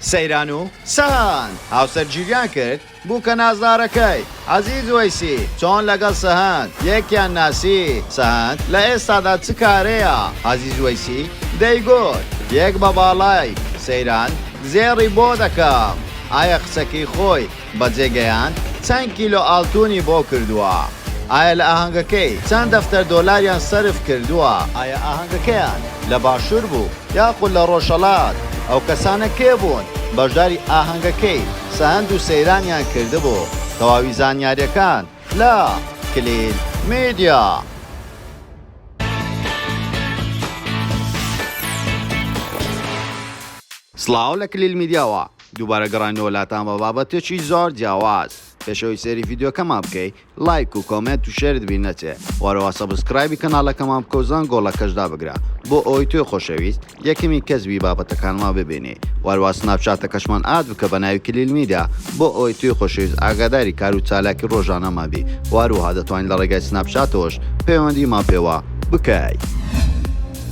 سەیران و سەهەند هاوسەرگیریان کرد بوکە نازدارەکەی، عەزیز وەیسی، چۆن لەگەڵ سەهەند یەکیان ناسی؟ سەهەند لە ئێستادا چ کارەیە؟ عەزیز وەیسی دەیگوت، یەک بە باڵای، سەیران، زێڕی بۆ دەکەم. ئایا قسەکەی خۆی بەجێگەیاند چەند کیلۆ ئاڵتونی بۆ کردووە؟ ئایا لە ئاهەنگەکەی چەند دەفتەر دۆلاریان سەرف کردووە؟ ئایا ئاهەنگەکەیان لە باشوور بوو یاخود لە ڕۆژهەڵات؟ ئەو کەسانە کێ بوون بەشداری ئاهەنگەکەی سەند و سەیرانیان کردبوو؟ تەواوی زانیارییەکان لە، کلیل میدیا. سڵاو لە کلیل میدیاوە دووبارە گەڕاینەوە لاتان بە بابەتێکی زۆر جیاواز. پێشەوەی سەیری ڤیدیۆکەمان بکەی لایک و کۆمێنت و شێرت بیر نەچێ و هەرەوە سەبسکرایبی کەناڵەکەمان بکە و زەنگۆڵەکەش دابگرە بۆ ئەوەی تۆی خۆشەویست یەکەمین کەس بی بابەتەکانمان ببینی و هەروا سناپچاتەکەشمان ئاد بکە بە ناوی کلیل میدیا بۆ ئەوەی توی خۆشەویست ئاگاداری کار و چالاکی ڕۆژانەمان بی و هەروەها دەتوانی لە ڕێگای سناپچاتەوەش پەیوەندیمان پێوە بکەی.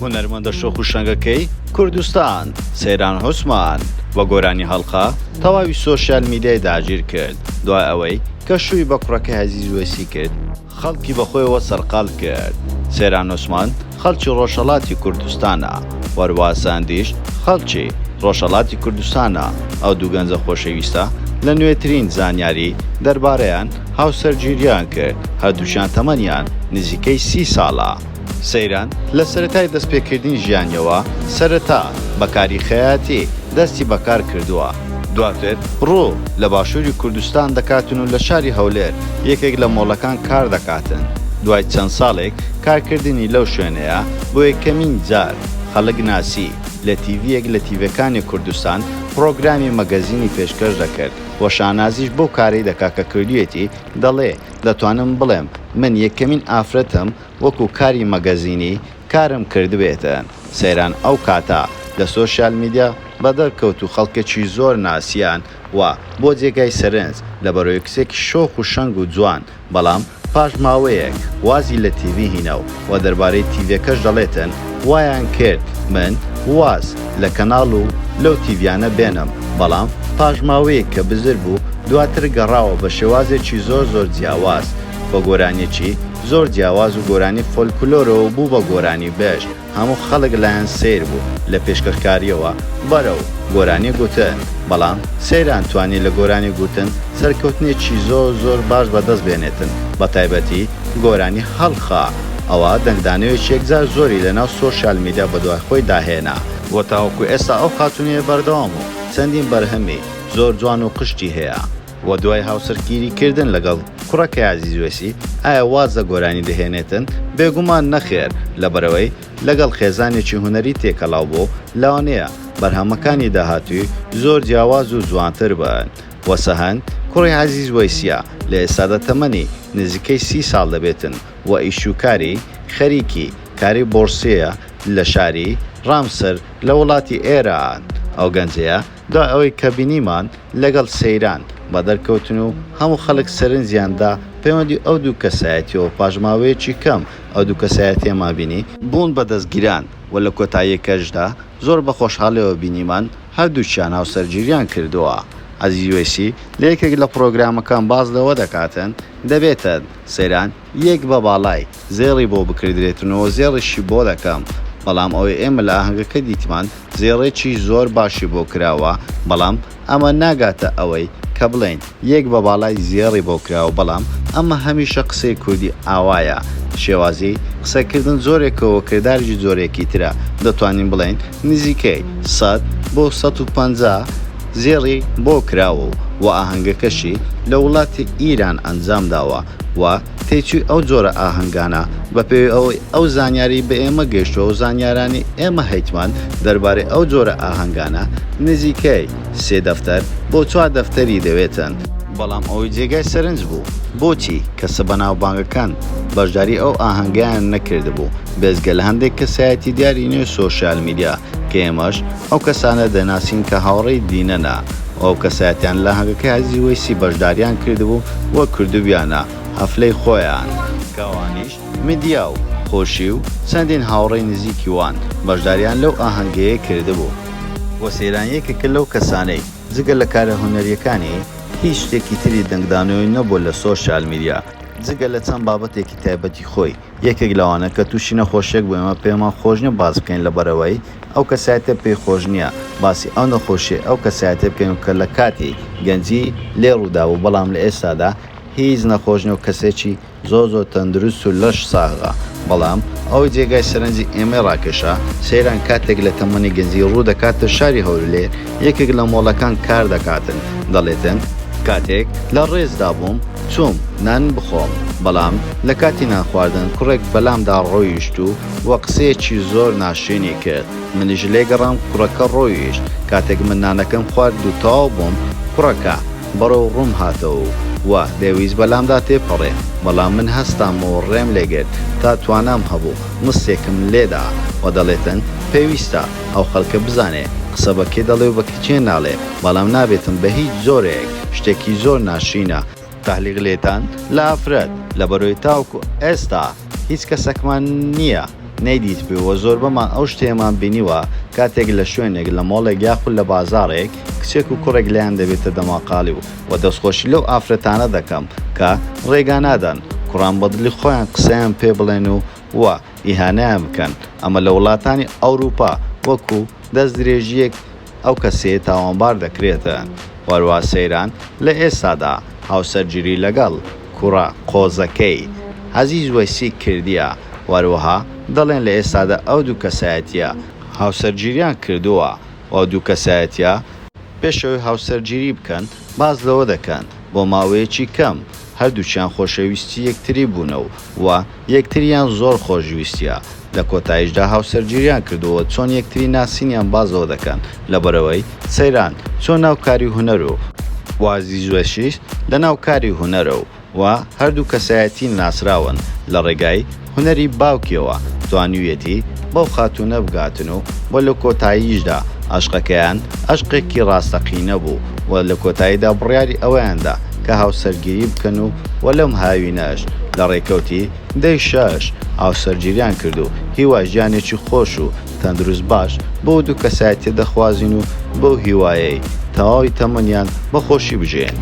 هونەرمەندە شۆخ و شەنگەکەی کوردستان، سەیران عوسمان، بە گۆرانی هەڵقە تەواوی سۆشیال میدیای داگیر کرد، دوای ئەوەی کە شووی بە کوڕەکەی عەزیز وەیسی کرد، خەڵکی بە خۆیەوە سەرقاڵ کرد، سەیران عوسمان خەڵکی ڕۆژهەڵاتی کوردستانە، وەروا سەندیش خەڵکی ڕۆژهەڵاتی کوردستانە، ئەو دوو گەنجە خۆشەویستە لە نوێترین زانیاری دەربارەیان هاوسەرگیرییان کرد، هەردووکیان تەمەنیان نزیکەی سی ساڵە. سەیران، لە سەرەتای دەستپێکردنی ژیانیەوە، سەرەتا، بە کاری خەیاتی، دەستی بە کار کردووە، دواتر، ڕوو، لە باشووری کوردستان دەکاتن و لە شاری هەولێر، یەکێک لە مۆڵەکان کار دەکاتن، دوای چەند ساڵێک کار کردنی لەو شوێنەیە، بۆ یەکەمین جار، خەڵک ناسی، لە تیڤیەک لە تیڤێکانی کوردستان، پڕۆگرامی مەگەزینی پێشکەش دەکرد و شانازیش بەو کارەی دەکا کە کردوویەتی، دەڵێ، دەتوانم بڵێم من یەکەمین ئافرەتم وەکو کاری مەگەزینی کارم کردبێتە سەیران ئەو کاتە لە سۆشیال میدیا بەدەرکەوت و خەڵکەکی زۆر ناسیان و بۆ جێگای سەرنج لە بەرۆیکسێکی شۆخ و شەنگ و جوان بەڵام پاش ماوەیەک وازی لە تیڤی هینا و و دەربارەی تیڤێکەش دەڵێتن وایان کرد من واز لە کەناڵ و لەو تیڤیانە بێنم بەڵام پاش ماوەیەک کە بزر بوو دواتر گەڕاوە بە شێوازێکی زۆر زۆر جیاواز بە گۆرانیەکی زۆر جیاواز و گۆرانی فۆلکلۆرەوە بوو بە گۆرانی بێژ هەموو خەڵک لایان سەیر بوو لە پێشکەشکاریەوە بەرەو گۆرانی گوتن بەڵام سەیران توانی لە گۆرانی گوتن سەرکەوتنێکی زۆر زۆر باش بەدەست بێنێتن بە تایبەتی گۆرانی هەڵخا ئەوە دەنگدانەوێکی یەکجار زۆری لە ناو سۆشیال میدیا بەدوای خۆی دا هێنا، وە تاوەکو ئێستا ئەو خاتوونەیە بەردەوام و چەندین بەرهەمی زۆر جوان و قشتی هەیە، وە دوای هاوسەرگیری کردن لەگەڵ کوڕەکەی عەزیز وەیسی ئایا واز لە گۆرانی دەهێنێتن؟ بێگومان نەخێر لەبەرئەوەی لەگەڵ خێزانێکی هونەری تێکەڵاو بوو لەوانەیە بەرهەمەکانی داهاتووی زۆر جیاواز و جوانتر بن، و سەهەن کوڕی عەزیز وەیسیە لە ئێستادا تەمەنی نزیکەی سی ساڵ دەبێتن و ئیش و کاری خەریکی کاری بۆڕسیە لە شاری ڕامسر لە وڵاتی ئێران. ئەو گەنجەیە دوای ئەوەی کە بینیمان لەگەڵ سەیران بەدەر کەوتن و هەموو خەڵک سەرنجیان دا پەیوەندی ئەو دوو کەسایەتیەوە پاش ماوەیەکی کەم ئەو دوو کەسایەتیەمان بینی بوون بە دەستگیران و لە کۆتاییەکەشدا زۆر بە خۆشحاڵیەوە بینیمان هەردووکیان هاوسەرگیریان کردووە. عەزیز وەیسی لە یەکێک لە پڕۆگرامەکان باس لەوە دەکاتن دەبێتن سەیران یەک بە باڵای زێڕی بۆ بکردرێتن و زێڕیشی بۆ دەکەم بەڵام ئەوەی ئێمە لە ئاهەنگەکە دیتمان زێڕێکی زۆر باشی بۆ کراوە بەڵام ئەمە ناگاتە ئەوەی کە بڵێین یەک بە باڵای زێڕی بۆ کراوە بەڵام ئەمە هەمیشە قسەی کوردی ئاوایە شێوازی قسە کردن جۆرێکەوە کرداریش جۆرێکی ترە دەتوانین بڵێین نزیکەی سەد بۆ سەد و پەنجا زێڕی بۆ کراوە و ئاهەنگەکەشی لە وڵاتی ئیران ئەنجام داوە و تێچووی ئەو جۆرە ئاهەنگانە، بەپێی ئەوەی ئەو زانیاریی بە ئێمە گەیشتووە و زانیارانی ئێمە هەیتمان دەربارەی ئەو جۆرە ئاهەنگانە، نزیکەی سێ دەفتەر بۆ چوار دەفتەری دەوێتن. بەڵام ئەوەی جێگای سەرنج بوو، بۆچی کەسە بەناوبانگەکان بەشداریی ئەو ئاهەنگەیان نەکردبوو، بێجگە لە هەندێک کەسایەتی دیاری نێو سۆشیال میدیا، کە ئێمەش ئەو کەسانە دەناسین کە هاوڕێی دینەنە و ئەو کەسایەتیان لە هەنگەکەی عەزیزی وەیسی بەشداریان کردبوو و کردبیانە هەفلەی خۆیان. کەوانیش میدیا و خۆشی و چەندین هاوڕێی نزیکی وان بەشداریان لەو ئاهەنگەیە کردبوو. و سەیران یەکێکە لەو کەسانەی جگە لە کارە هونەریەکانی هیچ شتێکی تری دەنگدانەوەی نەبووە لە سۆشیال میدیا جگە لە چەند بابەتێکی تایبەتی خۆی. یەکێک لەوانە کە توشی نەخۆشیەک بوو ئێمە پێمان خۆش نیە باس بکەین لەبەرئەوەی ئەو کەسایەتە پێی خۆش نیە باسی ئەو نەخۆشیەی ئەو کەسایەتە بکەین کە لەکاتی گەنجی لێ ڕوودابوو بەڵام لەئێستادا هیچ نەخۆش نیە و کەسێکی زۆر زۆر تەندروست و لەش ساغە بەڵام ئەوەی جێگای سەرنجی ئێمەی ڕاکێشا سەیران کاتێک لەتەمەنی گەنجی ڕوودەکاتە شاری هەولێر یەکێک لە مۆڵەکان کار دەکاتن دەڵێتن. کاتێک لە ڕێزدا بووم چووم نان بخۆم بەڵام لە کاتی نان خواردن کوڕێک بەلامدا ڕۆیشت و و قسەیەکی زۆر ناشرینی کرد منیش لێ گەڕام کوڕەکە ڕۆیشت کاتێک من نانەکەم خوارد و تەواو بووم کوڕەکە بەڕێو ڕووم هاتەوە و و دەیویست بەلامدا تێپەڕێ بەڵام من هەستام و ڕێم لێگرت تا توانام هەبوو مستێکم لێدا و دەڵێتن پێویستە ئەو خەلکە بزانێ قسە بە کێ دەڵێ و بە کچێ ناڵێ بەڵام نابێتن بە هیچ جۆرەیەک شتێکی زۆر ناشرینە تەهلیق لێتان لە ئافرەت لەبەرۆی تاوکو ئێستا هیچ کەسەکمان نیە نەیدیتبێ وە زۆربەمان ئەو شتەیەمان بینیوە کاتێک لە شوێنێک لە مۆڵێک یاخود لە بازاڕێک کچێک و کوڕێک لێیان دەبێتە دەماقاڵی و وە دەست خۆشی لەو ئافرەتانە دەکەم کە ڕێگا نادەن کوڕان بەدڵی خۆیان قسەیان پێ بڵێن و و ئیهانەیان بکەن، ئەمە لە وڵاتانی ئەوروپا وەکو دەستدرێژییەک ئەو کەسەیە تاوانبار دەکرێت و هەروەها سەیران لە ئێستادا هاوسەرگیری لەگەڵ کوڕە قۆزەکەی عەزیز وەیسی کردیە و هەروەها دەڵێن لە ئێستادا ئەو دوو کەسایەتییە هاوسەرگیریان کردووە و ئەو دوو کەسایەتییە پێش ئەوەی هاوسەرگیری بکەن باس لەوە دەکەن بۆ ماوەیەکی کەم هەردووکیان خۆشەویستی یەکتری بوونە و و یەکتریان زۆر خۆش ویستیە لە کۆتایشدا هاوسەرگیریان کردووە چۆن یەکتری ناسینیان باس لەوە دەکەن لەبەرئەوەی سەیران چۆن ناو کاری هونەر و و زیزوەشیش لەناو کاری هونەرە و. و هەردوو کەسایەتی ناسراون لە ڕێگای هونەری باوکیەوە توانیویەتی بەو خاتوونە بگاتن و و لە کۆتاییشدا ئەشقەکەیان ئەشقێکی ڕاستەقینە بوو و لە کۆتاییدا بڕیاری ئەوەیاندا کە هاوسەرگیری بکەن و و لەم هاوینەش لە ڕێکەوتی دەی شەش هاوسەرگیریان کرد و هیوای ژیانێکی خۆش و تەندروست باش بەو دوو کەسایەتیە دەخوازین و بەو هیوایەی تەواوی تەمەنیان بە خۆشی بژێن.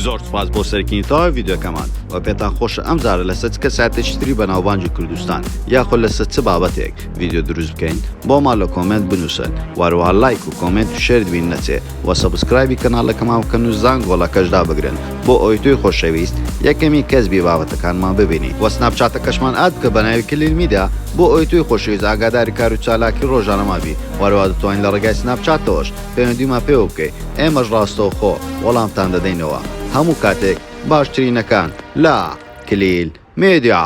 زۆر سوپاس بۆ سەرکینی تەواوی ڤیدیۆکەمان وە پێتان خۆشە ئەم جارە لەسەر چ کەسایەتێکی تری بەناوبانگی کوردستان یاخۆ لەسەر چ بابەتێک ڤیدیۆ دروست بکەین بۆمان لە کۆمێنت بنووسن وەروەها لایک و کۆمێنت و شێرت بین نەچێ و سەبسکرایبی کەناڵەکەمان بکەن و زانگۆڵەکەش دابگرن بۆ ئەوەی تۆی خۆشەویست یەکەمین کەس بی بابەتەکانمان ببینی وە سناپچاتەکەشمان ئاد بکە بەناوی کلیل میدیا بۆ ئەوەی تۆی خۆشەویست ئاگاداری کارو چالاکی ڕۆژانەمان بی و هەروەها دەتوانی لە ڕێگای سناپچاتەوەش پەیوەندیمان پێوە بکەی ئێمەش ڕاستەوخۆ وەڵامتان دەدەینەوە هەموو کاتێک باشترینەکان لە کلیل میدیا.